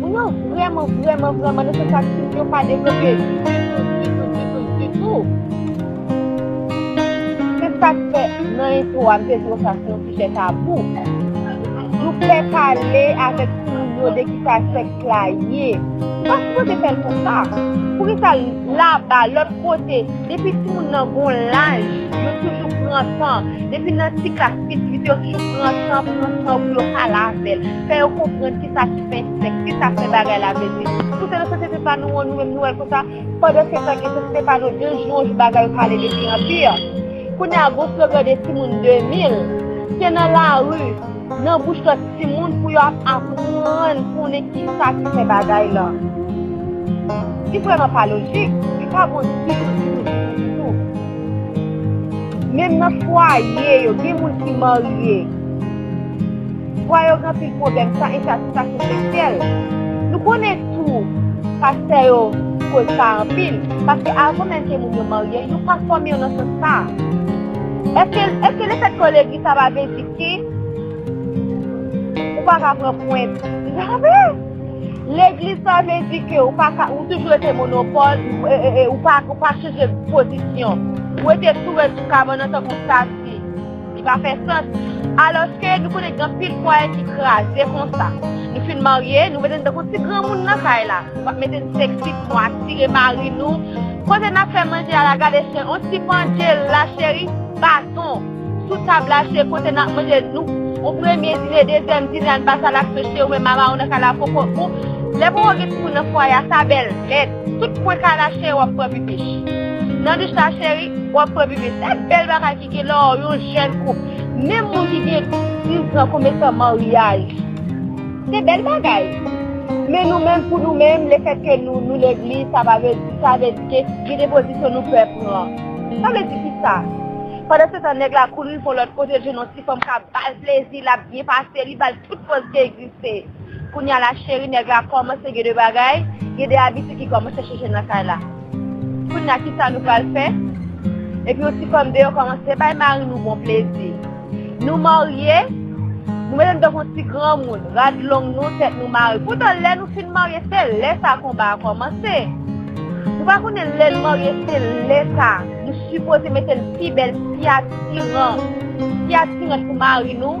Moun yo vrèman vrèman vrèman nan sans sa ti moun yo pa devlope ditou ditou ditou ditou. Se sa k fè nan entwo a m te di w sa se yon sijè tabou. Nou pè pale avèk ti moun yo de ki sa sèks la ye. Nou pa sipoze fè l konsa. Poukisa laba, lòt kote, depi ti moun nan gon laj yo toujou pran tan, depi nan ti klas piti piti yo toujou pran tan pran tan pou yo pale avè l. fè yo konprann ki sa ki fè sèks, ki sa fè bagay la vle di. Si se nan sosyete pa nou an, nou menm nou wè l konsa, pandan se tan gen sosyete pa nou, de jou an jou bagay yo pale de pi an pi. Kounye a, gon slogan de timoun 2000, se nan lari, nan bouch lòt timoun pou yo ap aprann konnen ki sa ki fè bagay lan. Li vrèman pa lojik, li pa bon ditou, ditou, ditou. Menm nan fwaye yo, gen moun ki marye. Vwa yo gen anpil pwoblèm san ensatisfaksyon seksyèl. Nou konnen tou pastè yo koz sa anpil, paske avan menm ke moun yo marye, yo pa fòme yo nan sans sa a. Eske eske lefèt ke w legliz sa pa vle di ke ou pa ka pran pwent? Jamè! Legliz pa vle di ke ou pa ka ou toujou rete monopòl ou pa chanje pozisyon. Ou rete tou rèd sou kabann an tankou w stati. Li pa fè sans. Alòske, nou konnen gen anpil fwaye ki kraze konsa. Nou fin marye, nou mete n tankou ti granmoun nan kay la. Nou pa mete n seksi pou nou atire mari nou. Kote n ap fè manje a la gade chen, on ti pandje la cheri, baton. Sou tab la se kote n ap manje, nou on premye dine, dezyèm dine ann pase a la kse cheri ou menm mama ou nan kay la poko ou. Lè poko gen timoun nan fwaye a sa bèl nèt. Tout kwen kay la cheri w ap pran pipich. Nan douch la cheri, w ap pran pipich. Se bèl bagay. Gen lè w yon jèn koup, menm moun ki gen 10 zan komense an maryaj. Se bèl bagay. Men nou menm pou nou menm, lefètke nou nou legliz, sa pa vle di, sa vle di ke gen de pozisyon nou pè pran. Sa vle di ki sa? Pandan se tan nèg la kouri pou yon lòt kote l jwenn yon ti fanm k ap ba l plezi, l ap byen pase, li ba l tout pòz ki egziste. Kounya la cheri nèg la kòmanse gen de bagay, gen de abitid ki kòmanse chanje nan kay la. Kounya kisa nou pral fè? Epi yon ti fanm deyò kòmanse bay mari nou bon plezi. Nou marye, nou mete nou tankou yon ti granmoun, rad long nou, tèt nou mare. Poutan lè nou fin marye se lè sa konba a kòmanse. Nou pa konnen lè n marye se lè sa nou sipoze mete n pi bèl, pi atiran, pi atirant pou mari nou.